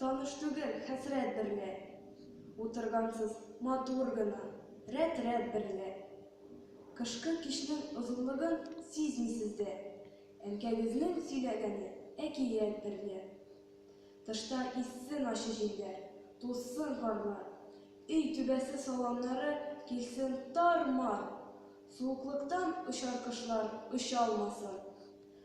Таныш түгел хәсрәт берлә. Утыргансыз матур гына, рәт-рәт берлә. Кышкы кичнең озынлыгын сизмисез дә. Әнкәгезнең сөйләгәне әкият берлә. Тышта иссен ачы җилләр, тузсын карлар. Өй түбәсе саламнары килсен тар-мар. Суыклыктан очар кошлар очалмасын.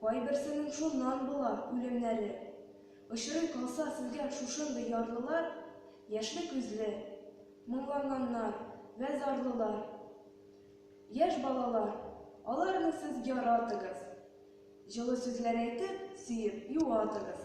Кайберсенең шуннан була үлемнәре. Очрый калса сезгә шушындый ярлылар, яшьле күзле, моңланганнар вә зарлылар. Яшь балалар, аларны сез яратыгыз, җылы сүзләр әйтеп, сөеп, юатыгыз.